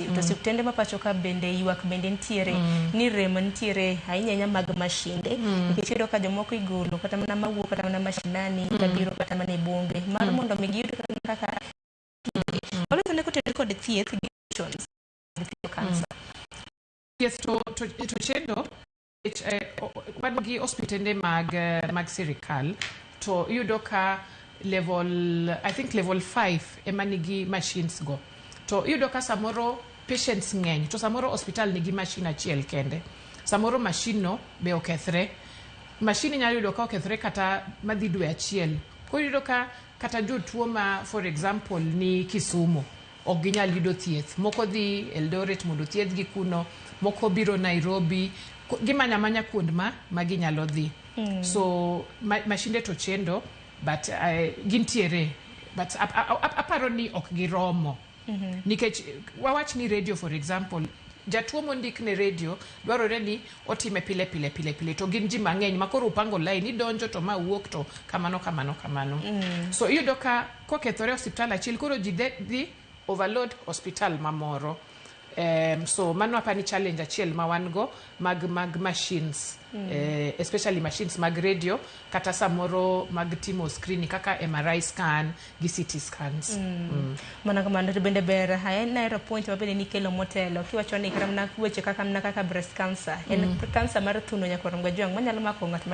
Mm. To osiptende ma pacho ka bende ywak bende nitiere mm. ni rem nitiere ahinya ahinya mag mashinde mm. nikech iyudo ka jomoko igolo kata mana mawuok kata mana mashinani mm. kabiro kata mana e bunge mar mm. mondo mi giyud kata mana kaka mm. waloso ne kotenore kod thieth gi options thieth kansa. Mm. Yes, to, to, to chendo eh, wan gi ospitende mag eh, mag sirikal to iyudo ka level i think level 5 ema nigi machines go to iyudo ka samoro patients ng'eny to samoro hospital nigi machine achiel kende samoro machine no be okethre machine inyalo yudo ka okethre kata madhi dwe achiel koro iyudo ka kata jotuo ma for example ni kisumu ok ginyal yudo thieth. Moko dhi Eldoret mondo thiedhgi kuno, moko biro Nairobi, ko- gimanyo amanya kuond ma, ma ginyalo dhi. So ma, mashinde to chendo but uh, gintiere but ap, ap, ap, aparo ni ok giromo. Nikech eh, wawach ni radio for example jatuo mondik ne radio dwarore ni otime pile pile pile pile to gin ji mang'eny makoro upango lain idonjo to ma wuok to kamano kamano kamano so iyudo ka Kokethore osiptal achiel koro ji de dhi overload hospital mamoro. Um, so mano apani challenge achiel ma wan go mag mag machines mm. eh, especially machines mag radio kata samoro mag timo screen kaka MRI scan gi CT scans mm. Mm. mana kamano to bende ber haya naero point ma bende nikelo motelo kiwacho ni kata mana weche kaka mana kaka breast cancer en mm. cancer mar thuno nyakwar mgajwang' manyalo mako ng'at